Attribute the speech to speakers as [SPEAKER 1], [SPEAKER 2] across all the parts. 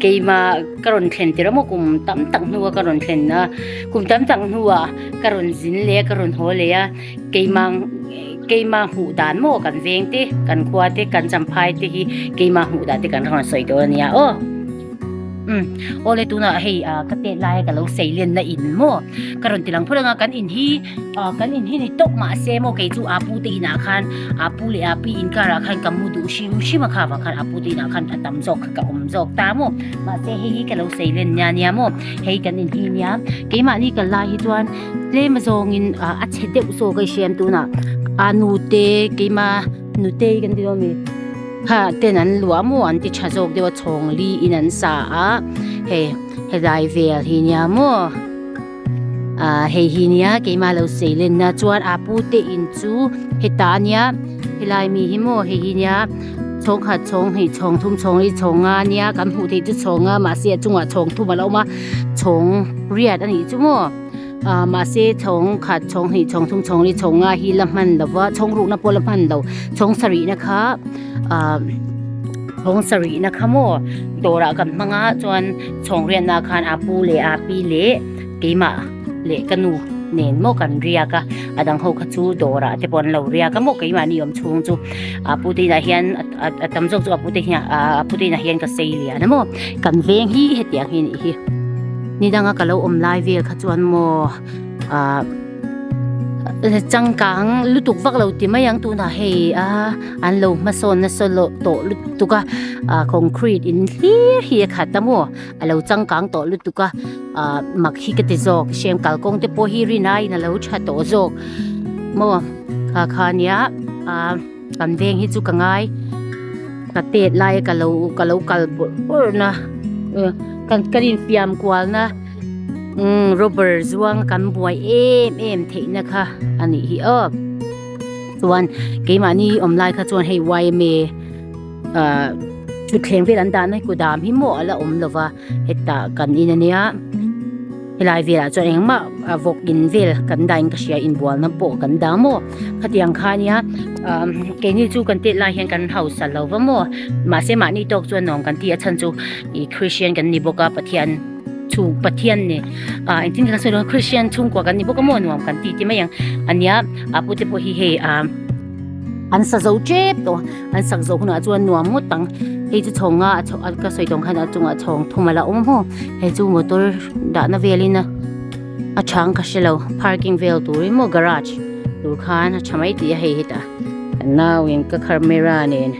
[SPEAKER 1] Keimah ka rawn thlen tirh amaw kum tam tak hnua ka rawn thlen a, kum tam tak hnua ka rawn zin leh a, ka rawn haw leh a, keimah keimah hmuh dan maw kan veng te, kan khua te, kan champhai te hi keimah hmuh dan te kan rawn sawi dawn a nia aw. Um, aw le tunah hei a ka tet laia ka lo sailen na in maw ka rawn ti lang phur ang a, kan in hi kan in hi ni tawp mah se maw kei chu a pu te inah khan, a pu leh a pi inkar ah khan ka mu duh hrim hrim a kha va khan a pu din ah khan a tam zawk kha ka awm zawk ta maw mahse hei hi ka lo sawi len nia nia maw hei kan in hi nia keimahni kal lai hi chuan tlem zawng in a chhe deuh zawk a i hriam tun ah a nu te keima nu te kan ti dawn mi ha ten an luah maw an ti tha zawk deuh a chhawng li in an sa a hei helai vel hi nia maw. Hei hi nia keimah lo seilenna chuan aa pu te in chu heta a nia helai mi hi maw hei hi nia chhawng khat chhawng hnih chhawng thum chhawng li chhawng nga nia kan hmuh theih chu chhawng nga mahse a chungah chhawng thum alo awm a chhawng riat anih chu maw ah mahse chhawng khat chhawng hnih chhawng thum chhawng li chhawng nga hi la hman lova chhawng rukna pawh la hman lo chhawng sarih na kha ah chhawng sarih na kha maw dawrah kan hmang a chuan-- Chhawngriatna khan a pu leh a pi leh keimah leh ka nu nen maw kan riak a, a dang ho kha chu dawrah te pawh an lo riak a maw keimah ni awm chhung chu a pu te inah hian a tam zawk chu a pu te hian a pu te inah hian ka sei lian a maw kan veng hi hetiang hi anih hi ni danga ka lo awm lai vel kha chuan maw. Ahh changkang lutuk vak lo ti mai ang tunah hei a an lo hmasawn nasa lo tawh lutuk a ahh concrete in hlir hi a khat a maw a lo changkang tawh lutuk a ahh mak hi ka ti zawk hriam kalkawng te pawh hi rin aiin a lo tha tawh zawk maw kha khania ahh-- Kan veng hi chu ka ngai ka pet lai ka lo ka lo kal bur bur na kan kan in fiam kual na robber zuanga kan buai em em theih na kha a nih hi aw chuan keimahni awm lai kha chuan hei yma thutthleng vel an dah na hi kudam hi maw ala awm lova. Heta kan in ania helai velah chuan engmah vawk in vel kan dah in ka hria inbualna pawh kan dah maw khatiang khania keini chu kan tet lai hian kan hausa lo va maw mahse mahni tawk chuan nawm kan ti a chhan chu i Christian kan ni bawk a Pathian chhung Pathian ni a engtin ka sawi lo Christian chhungkua kan ni bawk a maw nuam kan ti ti mai ang ania a pute pawh hi hei a An sa zo chep tawh a, an sak zo hunah chuan nuam ngawt ang. Hei chu chhawng a, ka sawi tawng khan a chungah chhawng thum ala awm hmaw. Hei chu motor dahna velin a a chhang ka hre lo, parking vel tur emaw garage tur khan a tha mai tih a hei hi tah. Nauin ka kharmera nen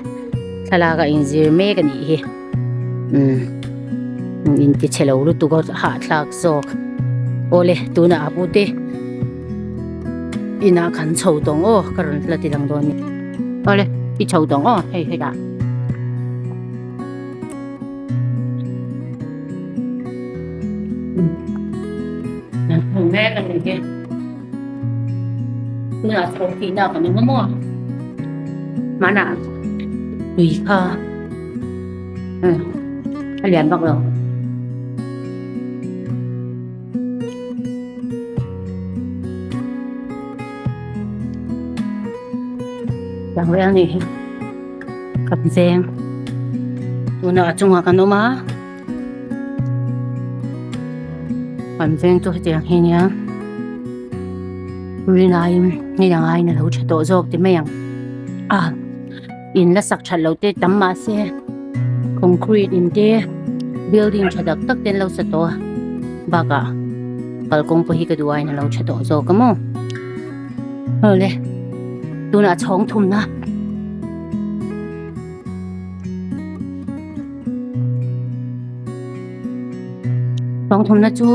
[SPEAKER 1] thlalak a inzir mek a nih hi. Umm in ti chhe lo lutuk a hah thlak zawk. Aw le tuna a bu te inah kan chho tawng aw ka rawn hla ti lang dawn nia. Aw le i chho tawng aw hei hei ah. Umm. Kan hmuh mek a ni hi. Tunah thawng tihna kan awm maw? Mahna tui kha a lian vak lo. Tang rel ni hi kap zeng. Tunah a chungah kan awm a. Kan veng chu hetiang hi nia rin aiin hei ang aiin a lo tha tawh zawk ti mai ang a in la sak that lote tam mah se concrete in te building tha tak tak ten lo sa tawh a bakah kalkawng pawh hi ka duh aiin a lo tha tawh zawk a maw ho le tunah chhawng thumna Bang thum na chu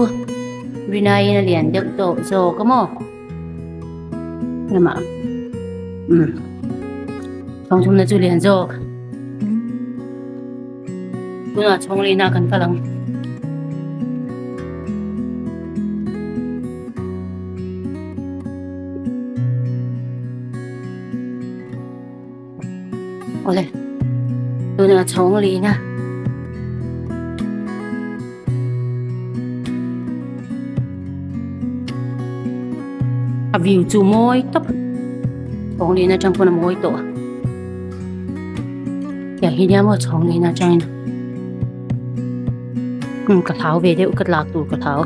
[SPEAKER 1] Rina in a lian deuh tawh zawk a maw? Lama. Um. Bang thum na chu lian zawk. Tuna chhong lina kan ka lang. Ole, tuna chawng li na. A view chu mawi tak. Chawng li na chang puna mawi to. Kya hi nia mo chawng li na chang. Hmm, ka thau ve deuh ka tlak tur ka thau.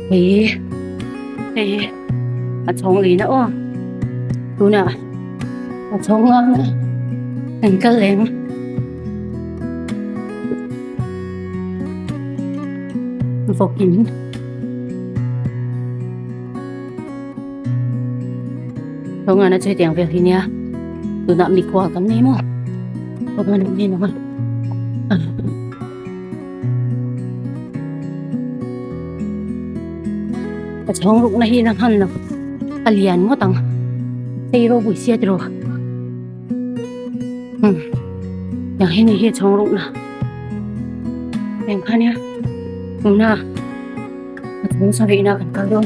[SPEAKER 1] Hei, hei. a chhawng leh na aw tuna a chhawng ngang na kan kal lem vokin chhawng ngang na chui tiang vel hi nia tuna mi kual kan nei maw chhawng ngang na ni na Chhawng rukna hi la nghan lo a lian ngawt ang hei rawh buhsia tiro hmm yang hi ni hi chhawng rukna heng khania tuna a chhawng sawi na kan kal dawn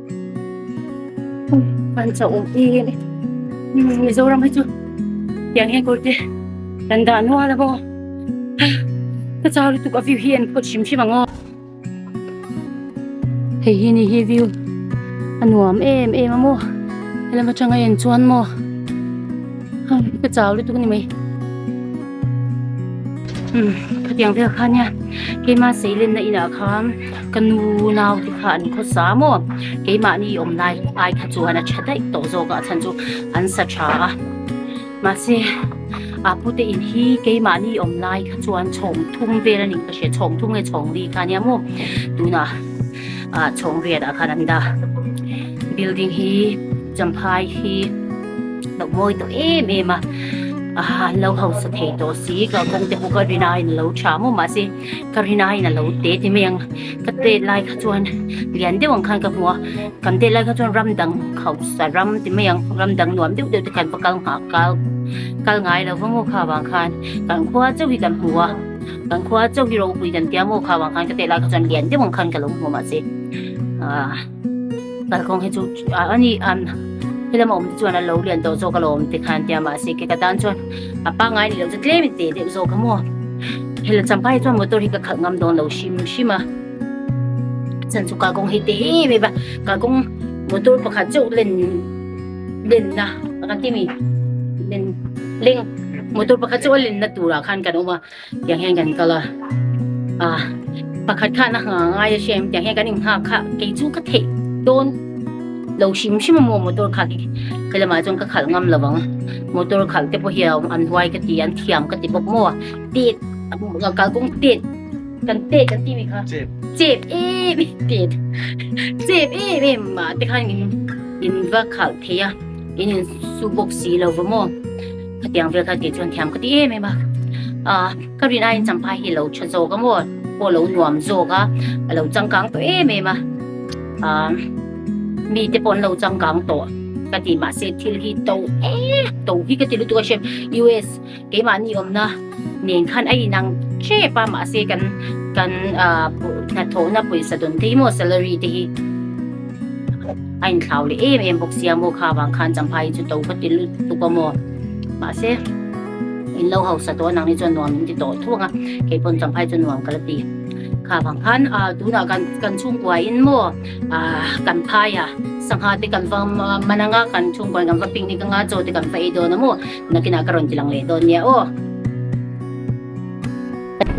[SPEAKER 1] Kan chau awm e ni. Mizoram hi chu tiang hian kawr te kan dah nual a bawk a. Ka chau lutuk a view hi en phawt hrim hrim ang aw. Hei hi ni hi view a nuam em em a maw. Helam atanga en chuan maw ka chau lutuk a ni mai. Khatiang vel khan hian keima seilenna inah khan. Ka nu nau te kha an khawsa maw? Keimahni i awm lai ai kha chuan a tha daih tawh zawk a, a chhan chu an sa tha a. Mahse, Apu te in hi keimahni i awm lai kha chuan chhawng thum vel a nih ka hria, chhawng thum nge chhawng ri kha nia maw? Tunah ah chhawng ria dah khan an da. Building hi Champhai hi lo mawi tawh em em a, a lo hausa thei tawh si, kalkawng te pawh ka rin aiin a lo tha maw? Mahse, Ka rin aiin a lo te ti mai ang. Ka tet lai kha chuan lian deuh ang khan ka hmu a, kan tet lai kha chuan ram dang khausa ram ti mai ang, ram dang nuam deuh deuh te kan va kal nghah kal kal ngai lo va maw kha vang khan kan khua chauh hi kan hmu a, kan khua chauh hi ropui kan tia maw kha vang khan ka tet lai kha chuan lian deuh ang khan ka lo hmu a mahse ahh. kalkawng hi chu ani an helama awm te chuan an lo lian tawh zawk a lo awm te khan tia mah se ke ka tan chuan a pangai ni lo chu tlem in te deuh zawk a maw hela champa hi chuan motor hi ka khalh ngam dawn lo hrim hrim a chan chu kalkawng hi te hi mai ba kalkawng motor pakhat cheuh len len na ka ti mi len leng motor pakhat cheuh len na tura khan kan awm a Tiang hian kan kal a, ah, pakhat khan a nghah ngai a hriam, tiang hian kan inghak kha, kei chu ka theih dawn lo hrim hrim a maw motor khalh hi, helamah chuan ka khalh ngam lo vang a, motor khalh te pawh hi a awm an huai ka ti, an thiam ka ti bawk maw a, tet, kalkawng tet, kan tet kan timi kha, chep em em, tet, chep em em mah te khan in va khalh thei a, in insu bawk si lo va maw. Hetiang vel kha ti chuan thiam ka ti em em a. Ah, ka rin aiin Champha hi lo tha zawk a maw, pawh lo nuam zawk a, a lo changkang tawh em em a. Ah, mi te pawh an lo changkang tawh ka ti mahse thil hi to e to hi ka ti lutuk a hriat. US keimah ni awmna. Nen khan a inang tep a mahse kan kan hnathawhna pawisa dawnte hi maw salary te hi a inthlau leh em em bawk sia maw kha vang khan champha hi chu to ka ti lut tuk a maw mahse in lo hausa tawh anang ni chuan nuam in ti tawh thuang a kei pawn champha hi chu nuam ka la ti kha vang khan a tunah kan kan chhungkua in maw a kan phai a sangha te kan va mananga kan chhungkua kan va picnic anga chaw te kan va ei dawn a maw Nakinah ka rawn ti lang leh dawn nia aw.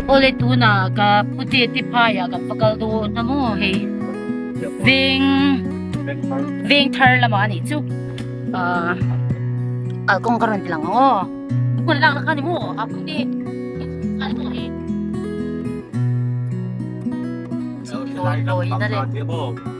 [SPEAKER 1] Awle tuna ka puti ti phaiah kan pa kal dawn hna maw hei. Veng Vengthar lamah a nih chu. Ahh kalkawng ka rawn ti lang ang aw. Hun lak na kha ni maw a puti a ni maw hei. Chu tluan tawina leh.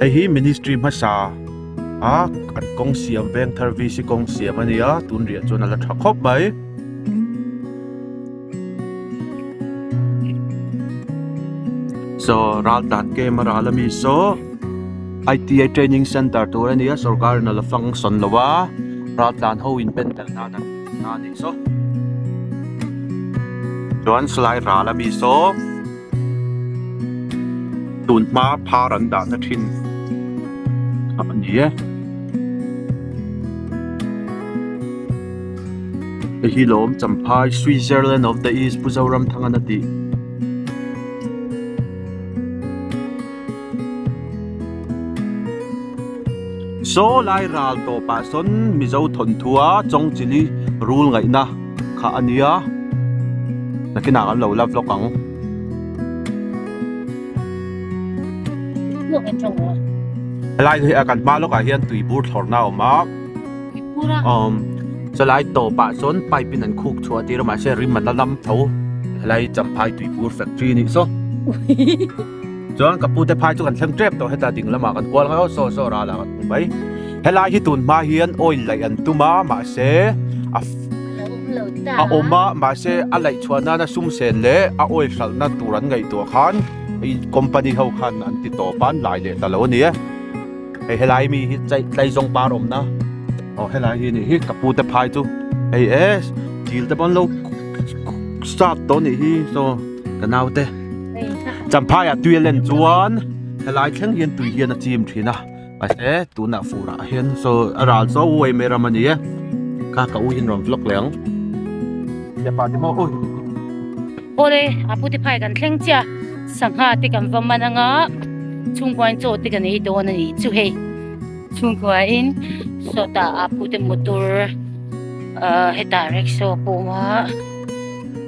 [SPEAKER 2] hei hi ministry hmasa a an kawng siam veng thar v c kawng siam a ni a tun riah chuan a la tha khawp mai. so ral tan ke ma ral ami so ITI training center tur a ni a sorkar in a la fang sawn lo va ral tan ho in pen tel nan an-- Aa tih saw. Chuan salai ral ami saw tun hma phar an dahna thin kha a ni e. Hei hi lawm champhai Switzerland of the East Pu Zoramthangana tih. Saw lai ral tawpah sawn Mizo thawnthua Chawngchili rul ngaihna kha a nia, nakinah kan lo la vlog ang.
[SPEAKER 1] Helai
[SPEAKER 2] kan hma lawkah hian tui bur thlawrhna a awm a, saw lai tawpah sawn pipe in an khuk chhuah a tir a mahse rim an la lam tho, helai Champhai tui bur factory a nih saw. chuan ka pu te phai chu kan thleng tep tawh heta ding lamah kan kual ngaihaw saw saw rala kan hmu mai helai hi tun hma hian oil laih an tum a mahse a a awm a mahse a laih chhuah nan a sum sen leh a oil hralhna tur an ngaih tur khan i company ho khan an ti tawp a an lai leh ta lo a ni a hei helai mi hi tlai tlai zawng par awmna aw helai hi nih hi ka pu te phai chu hei e thil te pawh an lo start tawh a nih hi saw ka naute Champhai a tuia len chuan helai thleng hian tui hian a chim thin a mahse tuna furah hian saw a ral saw u êm êm ram a ni e kha ka u hian rawn vlog leh ang hepa te maw ui
[SPEAKER 1] ole a puti phai kan thleng chia sangha te kan va man anga chhungkuain chaw te kan ei dawn a ni chu hei chhungkuain sawta a pute motor heta rickshaw pawma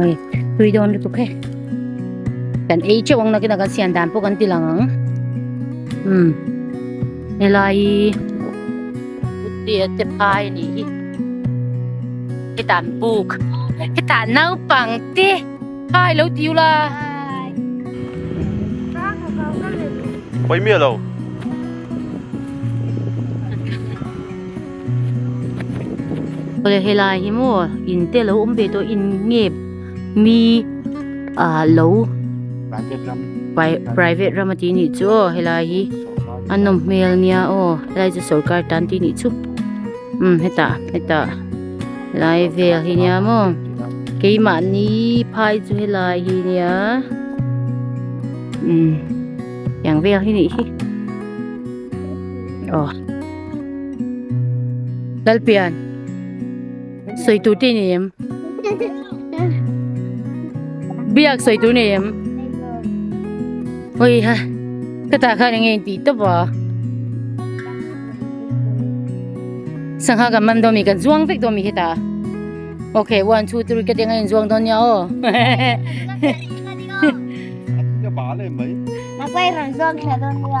[SPEAKER 1] Oi, tui dawn lutuk he. Kan ei cheu ang nakina kan sian dan pawh kan ti lang ang. Hmm. Helai. Uti a te phai ni hi. Hi tan buk. Hi tan nau pang te. Hai lo tiu la.
[SPEAKER 2] Oi mi alo.
[SPEAKER 1] Awle helai hi maw in te lo awm ve tawh in nge mi ah lo private ram a tih ni chu aw helai hi a nawm hmel nia aw helai chu sorkar tan tih ni chu um heta heta lai vel hi nia maw keimahni phai chu helai hi nia um yang vel hi nih hi aw Lalpian Sawi tur te nei em Biak sawi tur nei em Oi ha Ka ta khan enge ti top a Sangha kan mam do mi kan zuang vek do mi heta Okay one two three ka tenga in zuang do nia o
[SPEAKER 2] Ka ba le mai Ka pai rang
[SPEAKER 3] zuang kha do nia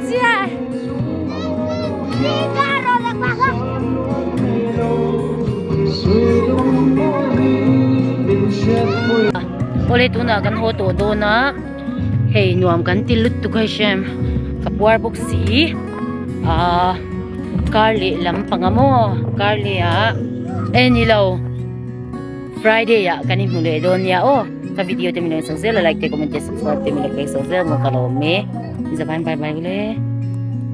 [SPEAKER 1] Awle tunah kan haw tawh dawn a hei nuam kan ti lut tu ka hrisem ka puar bawk si ahh kar leh lam panga maw kar leh ah eni lo Friday ah kan inhmu leh dawn nia aw. Ka video te min lo chak zel a like te comment te subscribe te min lo pek chak zel maw ka lawm e. Zabain bye bye ule.